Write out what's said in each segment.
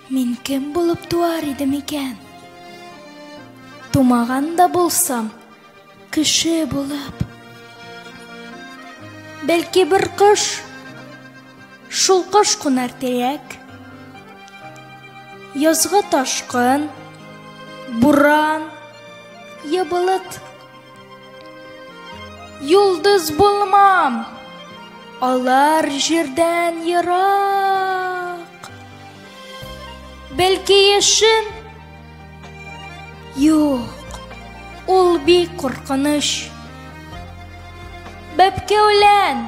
Мин кем булып туар идем икән? Тумаган да булсам, кеше булып. Бәлки бер кош, шул кош кунар тирәк. Язгы ташкын, буран, ябылыт Юлдыз булмам. Алар җирдән ерак. Бәлки яшен Юк. Ул бик куркыныч. Бәбкәүлән.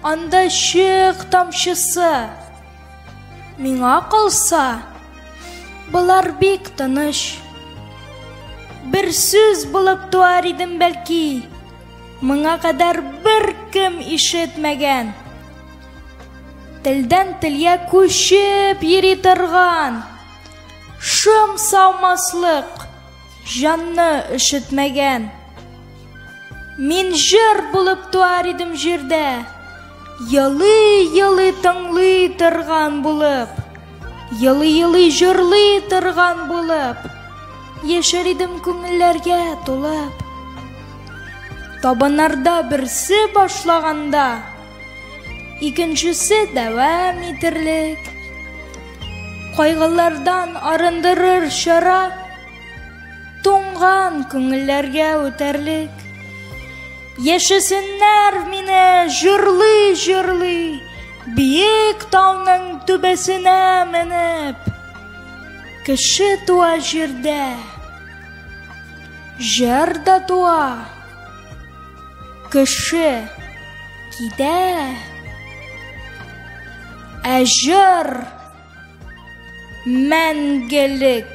Анда чык тамчысы. Миңа калса, болар бик тыныч. Бер сүз булып туар идем бәлки. Моңа кадәр бер кем ишетмәгән. Телдән телгә күчеп йөри торган. Шым саумаслык. җанны өшетмәгән. Мин җыр булып туар идем җирдә, елый-елый тыңлый торган булып, елый-елый җырлый торган булып, яшәр идем күңелләргә тулып. Табыннарда берсе башлаганда, Икенчесе дәвам итерлек. Кайгылардан арындырыр чара туңган күңелләргә үтәрлек. Яшәсеннәр мине җырлый җырлый биек тауның түбәсенә менеп. Кеше туа җирдә, җыр да туа. Кеше китә, ә җыр мәңгелек.